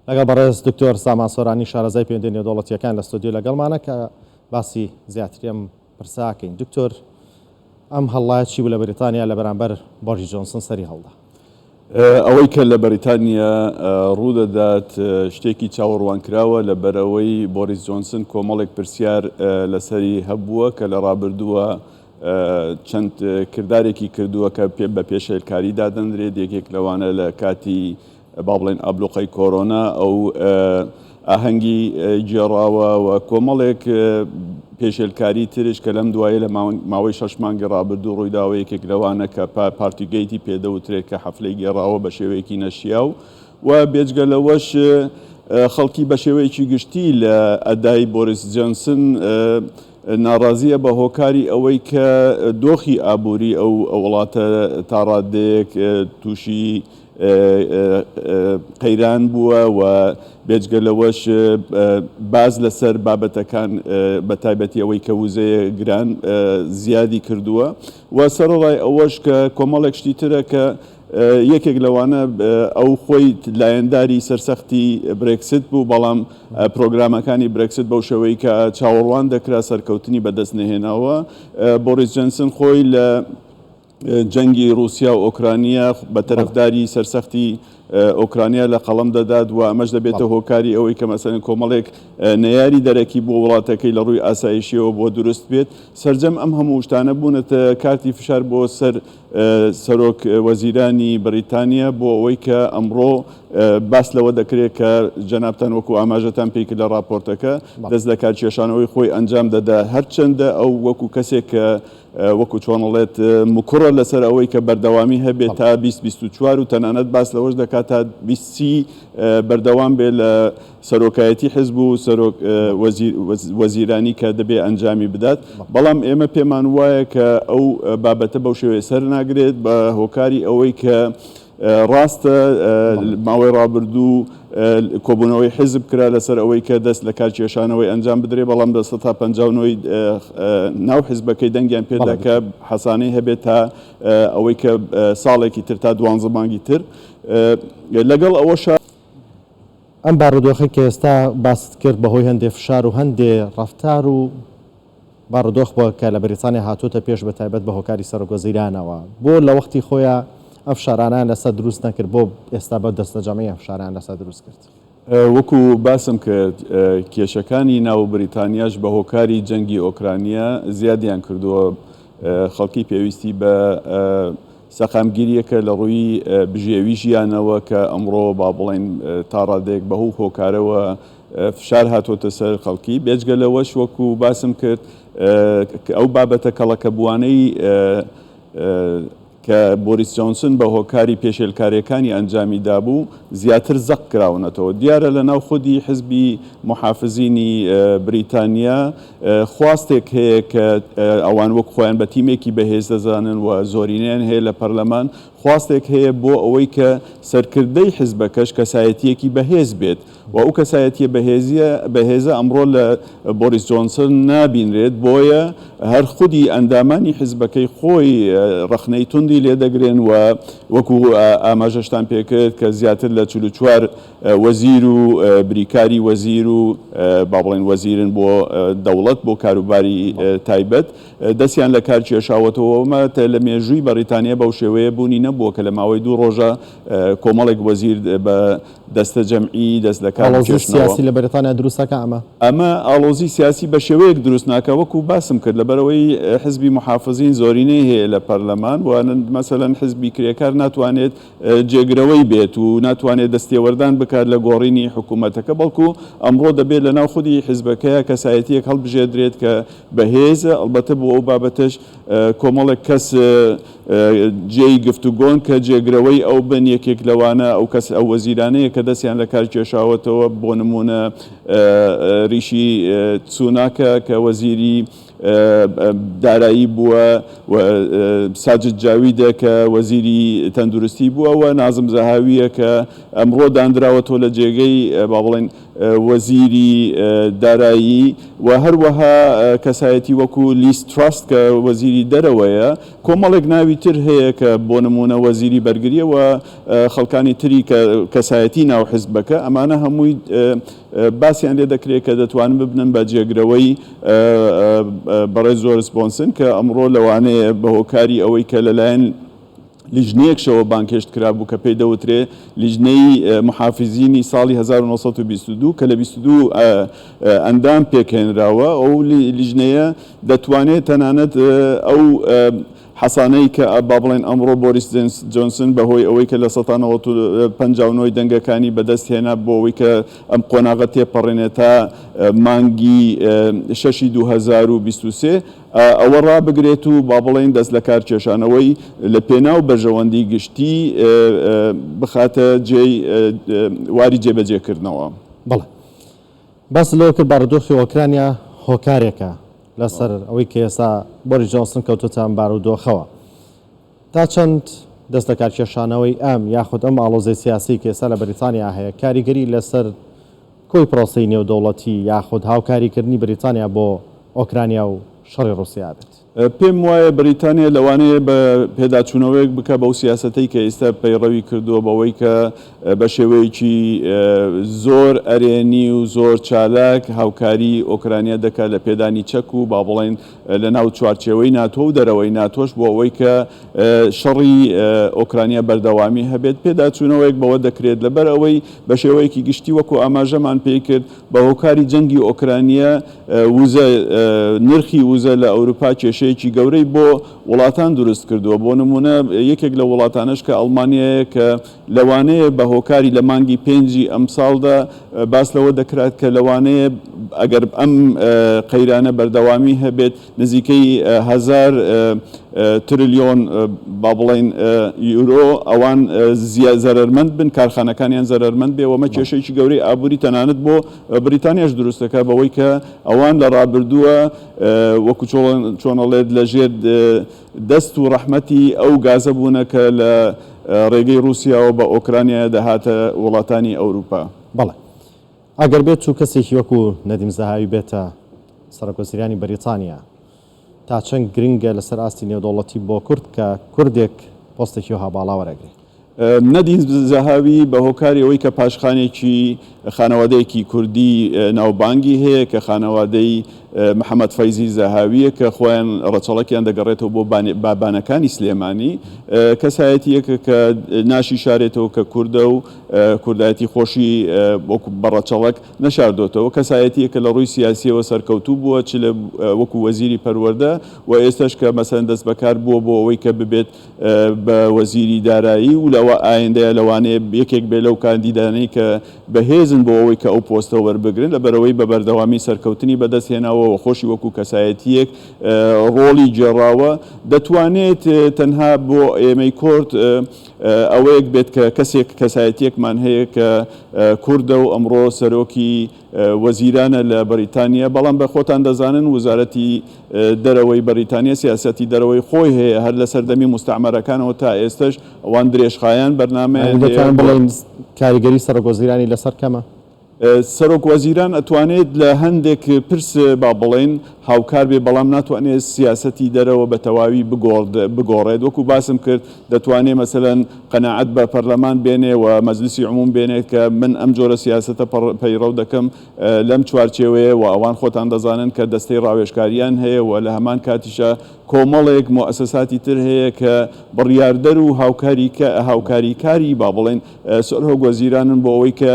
لەگەڵ بەڕێز دکتۆر سامان سۆرانی شارەزای پەیوەندی نێودەوڵەتیەکان لە ستۆدیۆ لەگەڵمانە کە باسی زیاتری ئەم پرسە کەین دکتۆر ئەم هەڵڵایە چی بوو لە بەریتانیا لە بەرامبەر بۆریس جۆنسن سەری هەڵدا ئەوەی کە لە بەریتانیا ڕوودەدات شتێکی چاوەڕوانکراوە لەبەرئەوەی بۆریس جۆنسن کۆمەڵێک پرسیار لەسەری هەبووە کە لە ڕابردووە چەند کردارێکی کردووە کە پێ بە پێشێلکاری دادەندرێت یەکێک لەوانە لە کاتی با بڵێین ئابلوقەی کۆرۆنا ئەو ئاهەنگی گێڕاوە و کۆمەڵێک پێشێلکاری ترش کە لەم دوایە لە ماوەی شەش مانگی ڕابردوو ڕوویداوە یەکێک لەوانە کە پارتیگەیتی پێدەوترێت کە حەفلەی گێڕاوە بە شێوەیەکی نەشیاو و بێجگە لەوەش خەڵکی بە شێوەیەکی گشتی لە ئەدای بۆریس جەنسن ناڕازیە بە هۆکاری ئەوەی کە دۆخی ئابووری ئەو وڵاتە تاڕادەیەک تووشی قەیران بووە و بێجگە لەوەش باس لەسەر بابەتەکان بە تایبەتی ئەوەی کە وزەیە گران زیادی کردووە و سەرەڕای ئەوەش کە کۆمەڵێک شتی ترە کە یەکێک لەوانە ئەو خۆی لایەنداری سەرسەختی برێکست بوو بەڵام پرۆگرامەکانی برێکست بەو شێوەی کە چاوەڕوان دەکرا سەرکەوتنی بەدەست نەهێناوە بۆریس جەنسن خۆی لە جەنگی ڕووسیا و ئۆکرانیا بە تەرەفداری سەرسەختی ئۆکرانیا لە قەڵەم دەدات و ئەمەش دەبێتە هۆکاری ئەوەی کە مەسەن کۆمەڵێک نەیاری دەرەکی بۆ وڵاتەکەی لە ڕووی ئاسایشیەوە بۆ دروست بێت سرجەم ئەم هەموو شتانە بوونەتە کارتی فشار بۆ سەر سەرۆک وەزیرانی بریتانیا بۆ ئەوەی کە ئەمڕۆ باس لەوە دەکرێت کە جەنابان وەکو ئاماژەتان پێی لە راپۆرتەکە دەست لە کارکێشانەوەی خۆی ئەنجام دەدا هەرچەندە ئەو وەکو کەسێک کە وەکو چۆن ئەڵێت مکوڕە لەسەر ئەوەی کە بەردەوامی هەبێت تا 2024 و تەنانەت باس لەوەش دەکات تا 20 بەردەوام بێ لە سەرۆکایەتی حزب و سەرۆک وەزیرانی کە دەبێ ئەنجامی بدات بەڵام ئێمە پێمان وایە کە ئەو بابەتە بەو شێوەیە سەر ناگرێت بە هۆکاری ئەوەی کە ڕاستە ماوەی ڕابردوو کۆبوونەوەی حیزب کرا لەسەر ئەوەی کە دەست لە کار کێشانەوەی ئەنجام بدرێ بەڵام بە سەتا پەنجا و نۆی ناو حیزبەکەی دەنگیان پێدا کە حەسانەی هەبێت تا ئەوەی کە ساڵێکی تر تا دوانزە مانگی تر لەگەڵ ئەوەشە ئەم بارودۆخەی کە ئێستا باست کرد بەهۆی هەندێ فشار و هەندێ ڕەفتار و بارودۆخ بووە کە لە بەریتانیا هاتووەتە پێش بە تایبەت بە هۆکاری سەرۆک وەزیرانەوە. بۆ لە وەختی خۆیا ئەم فشارانەیان لەسەر دروست نەکرد بۆ ئێستا بە دەستەجەمعی ئەم فشارەیان لەسەر دروست کرد. وەکو باسم کرد کێشەکانی ناو بریتانیاش بە هۆکاری جەنگی ئۆکرانیا زیادیان کردووە. خەڵکی پێویستی بە سەقامگیریەکە لە ڕووی بژێوی ژیانەوە کە ئەمڕۆ با بڵێین تا ڕادەیەک بە هو هۆکارەوە فشار هاتۆتە سەر خەڵکی، بێجگە لەوەش وەکو باسم کرد ئەو بابەتە کەڵەکەبووانەی کە بۆریس جۆنسن بە هۆکاری پێشێلکاریەکانی ئەنجامی دابوو زیاتر زەق کراونەتەوە دیارە لە ناو خودی حزبی محافزینی بریتانیا خواستێک هەیە کە ئەوان وەک خۆیان بە تیمێکی بەهێز دەزانن و زۆرینەیان هەیە لە پەرلەمان خواستێک هەیە بۆ ئەوەی کە سەرکردەی حزبەکەش کەسایەتیەکی بەهێز بێت و ئەو کەسایەتیە بەهێزیە بەهێزە ئەمڕۆ لە بۆریس جۆنسن نابینرێت بۆیە هەر خودی ئەندامانی حزبەکەی خۆی ڕەخنەی توندی لێدەگرن و وەکو ئاماژەشتان پێکرد کە زیاتر لە چل و چوار وەزیر و بریکاری وەزیر و با بڵێن وەزیرن بۆ دەوڵەت بۆ کاروباری تایبەت دەستیان لە کار کێشاوەتەوە ئەمە لە مێژووی بەڕیتانیا بەو شێوەیە بوونی نەبووە کە لە ماوەی دوو ڕۆژە کۆمەڵێک وەزیر بە دەستەجەمعی دەست لە کار ئاڵۆزی بکێشنەوە. سیاسی لە بەریتانیا دروست ناکا ئەمە؟ ئەمە ئاڵۆزی سیاسی بە شێوەیەک دروست ناکا وەکوو باسم کرد لەبەرئەوەی حزبی موحافزین زۆرینەی هەیە لە پەرلەمان و مەسەلەن حزبی کرێکار ناتوانێت جێگرەوەی بێت و ناتوانێت دەستێوەردان بکات لە گۆڕینی حکوومەتەکە بەڵکوو ئەمڕۆ دەبێت لەناو خودی حزبەکەیا کەسایەتییەک هەڵبژێردرێت کە بەهێزە ئەڵبەتە بۆ ئەو بابەتەش کۆمەڵێک کەس جێی گفتوگۆن کە جێگرەوەی ئەو بن، یەکێک لەوانە ئەو کەس ئەو وەزیرانەیە کە دەستیان لە کار کێشاوەتەوە، بۆ نموونە ریشی سوناکە کە وەزیری دارایی بووە و ساجد جاویدە کە وەزیری تەندروستی بووە و نازم زەهاوییە کە ئەمڕۆ داندراوەتەوە لە جێگەی با بڵێین وەزیری دارایی و هەروەها کەسایەتی وەکو لیز تراست کە وەزیری دەرەوەیە، کۆمەڵێک ناوی تر هەیە کە بۆ نموونە وەزیری بەرگریە و خەڵکانی تری کە کەسایەتی ناو حزبەکە ئەمانە هەمووی باسیان لێ دەکرێت کە دەتوانن ببنن بە جێگرەوەی بەڕێز جۆرس بۆنسن کە ئەمڕۆ لەوانەیە بەهۆکاری ئەوەی کە لەلایەن لیژنەیەک شەوە بانگهێشت کرابوو کە پێی دەوترێ لیژنەی محافزینی ساڵی هەزار و نۆ سەد و بیست و دوو کە لە بیست و دوو ئەندام پێکهێنراوە ئەو لیژنەیە دەتوانێ تەنانەت ئەو حەسانەی کە با بڵێن ئەمڕۆ بۆریس جۆنسن بە هۆی ئەوەی کە لە سەتا نەوەت و پەنجا و نۆی دەنگەکانی بەدەست هێنا بۆ ئەوەی کە ئەم قۆناغە تێپەڕێنێ تا مانگی شەشی دوو هەزار و بیست و سێ ئەوە ڕابگرێت و با بڵێین دەستلەکارکێشانەوەی لە پێناو بەرژەوەندی گشتی بخاتە جێی واری جێبەجێکردنەوە. بەڵێ. باست لەوە کرد بارودۆخی ئۆکرانیا هۆکارێکە لەسەر ئەوەی کە ئێستا بۆریس جۆنسن کەوتۆتە ئەم بارودۆخەوە. تا چەند دەستلەکارکێشانەوەی ئەم یاخود ئەم ئاڵۆزیی سیاسیی کە ئێستا لە بەریتانیا هەیە، کاریگەری لەسەر کۆی پرۆسەی نێودەوڵەتی یاخود هاوکاریکردنی بەریتانیا بۆ ئۆکرانیا و شەڕی ڕووسیا ئەبێت؟ پێم وایە بەریتانیا لەوانەیە بە پێداچوونەوەیەک بکا بەو سیاسەتەی کە ئیستا پەیڕەوی کردووە بەوەی کە بە شێوەیەکی زۆر ئەرێنی و زۆر چالاک هاوکاریی ئۆکرانیا دەکا لە پێدانی چەک و با بڵێین لە ناو چوارچێوەی ناتۆ و دەرەوەی ناتۆش بۆ ئەوەی کە شەڕی ئۆکرانیا بەردەوامی هەبێت، پێداچوونەوەیەک بەوە دەکرێت، لەبەر ئەوەی بە شێوەیەکی گشتی وەکو ئاماژەمان پێی کرد، بە هۆکاری جەنگی ئۆکرانیا وزە، نرخی وزە لە ئەوروپا کێشەیەکی گەورەی بۆ وڵاتان دروست کردووە، بۆ نموونە یەکێک لەو وڵاتانەش کە ئەڵمانیایە کە. لەوانەیە بە هۆکاری لە مانگی پێنجی ئەمساڵدا باس لەوە دەکرات کە لەوانەیە ئەگەر ئەم قەیرانە بەردەوامی هەبێت نزیکەی هەزار ترلیۆن با بڵێن یورۆ ئەوان زیا زەرەرمەند بن کارخانەکانیان زەرەرمەند بێ وەمە بەڵێ کێشەیەکی گەورەی ئابووری تەنانەت بۆ بریتانیاش دروست دەکات بەوەی کە ئەوان لە ڕابردووە وەکو چۆن چۆن ئەڵێت لەژێر دەست و ڕەحمەتی ئەو گازە بوونە کە لە ڕێگەی ڕووسیاوە بە ئۆکرانیایە دەهاتە وڵاتانی ئەوروپا. بەڵێ. ئەگەر بێتو کەسێکی وەکو نەدیم زەهاوی بێتە سەرۆک وەزیرانی بەریتانیا، تاچەند گرنگە لەسەر ئاستی نێودەوڵەتی بۆ کورد کە کوردێک پۆستێکی وەها باڵا وەرەگرێ؟ نەدین زەهاوی بە هۆکاری ئەوەی کە پاشخانێکی خانەوادەیەکی کوردی ناوبانگی هەیە کە خانەوادەی محەممەد فەیزی زەهاویە کە خۆیان ڕەچەڵەکیان دەگەڕێتەوە بۆ بابانەکانی سلێمانی کەسایەتیەکە کە ناشی شارێتەوە کە کوردە و کوردایەتی خۆشی وەکو بەڕەچەڵەک نەشاردۆتەوە کەسایەتیە کە لە ڕووی سیاسیەوە سەرکەوتوو بووە چ لە وەکو وەزیری پەروەەردە و ئێستش کە مەسەن دەست بەکار بووە بۆ ئەوەی کە ببێت بە وەزیری دارایی و لەوە ئایندەیە لەوانەیە یەکێک بێت لەو کاندیدانەی کە بەهێزن بۆ ئەوەی کە ئەو پۆستە وەربگرن لەبەرئەوەی بە بەردەوامی سەرکەوتنی بەدەست هێناوە و خۆشی وەکو کەسایەتییەک ڕۆڵی گێڕاوە دەتوانێت تەنها بۆ ئێمەی کۆرد ئەوەیەک بێت کە کەسێک کەسایەتییەکمان هەیە کە کوردە و ئەمڕۆ سەرۆکی وەزیرانە لە بەریتانیا، بەڵام بە خۆتان دەزانن وزارەتی دەرەوەی بەریتانیا سیاسەتی دەرەوەی خۆی هەیە هەر لە سەردەمی موستەعمەرەکانەوە تا ئێستەش ئەوان درێژخایەن بەرنامەیان هەیە. دەتوانن بڵێن کاریگەری سەرۆک وەزیرانی لەسەر کەمە؟ سەرۆک وەزیران ئەتوانێت لە هەندێک پرس با بڵێن، هاوکار بێ بەڵام ناتوانێ سیاسەتی دەرەوە بە تەواوی بگۆڕێت وەکو باسم کرد دەتوانێ مەسەلەن قەناعەت بە پەرلەمان بێنێ و مەجلیسی عموم بێنێت کە من ئەم جۆرە سیاسەتە پەیڕەو دەکەم لەم چوارچێوەیە و ئەوان خۆتان دەزانن کە دەستەی ڕاوێژکاریان هەیە و لە هەمان کاتیشا کۆمەڵێک موئەسەساتی تر هەیە کە بڕیاردەر و هاوکاری کاری با بڵێین سرهۆک وەزیرانن بۆ ئەوەی کە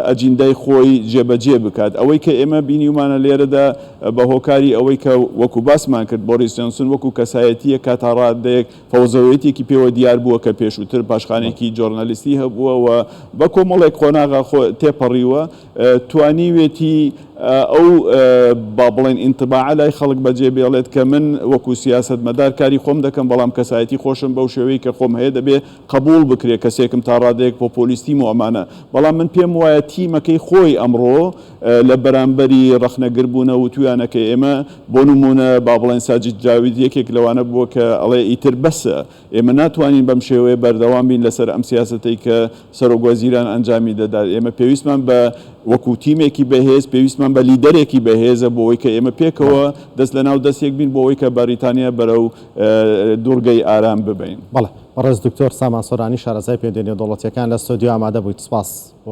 ئەجیندای خۆی جێبەجێ بکات ئەوەی کە ئێمە بینیومانە لێرەدا بە هۆکاری ئەوەی کە وەکو باسمان کرد بۆریس جۆنسون وەکو کەسایەتیە کە تا ڕادەیەک فەوزەوێتێکی پێوە دیار بووە کە پێشووتر پاشخانێکی جۆرنالیستی هەبووە و بە کۆمەڵێک قۆناغا خۆ تێپەڕیوە توانیوێتی ئەو با بڵێن ئینتباعە لای خەڵک بەجێ بێڵێت کە من وەکو سیاسەتمەدار کاری خۆم دەکەم بەڵام کەسایەتی خۆشم بەو شێوەی کە خۆم هەیە دەبێ قبوڵ بکرێت کەسێکم تا ڕادەیەک پۆپۆلیستیم و ئەمانە بەڵام من پێم وایە تیمەکەی خۆی ئەمڕۆ لە بەرامبەری ڕەخنەگر بوونە وتویانە کە ئێمە بۆ نموونە با بڵێن ساجید جاوید یەکێک لەوانە بووە کە ئەڵێ ئیتر بەسە ئێمە ناتوانین بەم شێوەیە بەردەوام بین لەسەر ئەم سیاسەتەی کە سەرۆک وەزیران ئەنجامی دەدات ئێمە پێویستمان بە وەکو تیمێکی بەهێز پێویستمان بە لیدەرێکی بەهێزە بۆ ئەوەی کە ئێمە پێکەوە دەست لەناو دەستێک بین بۆ ئەوەی کە بەریتانیا بەرەو دوڕگەی ئارام ببەین. بەڕێز دکتۆر سامان سۆرانی شارەزای پێنجە نێودەوڵەتیەکان لە ستۆدیۆ ئامادە بوویت سپاس بۆ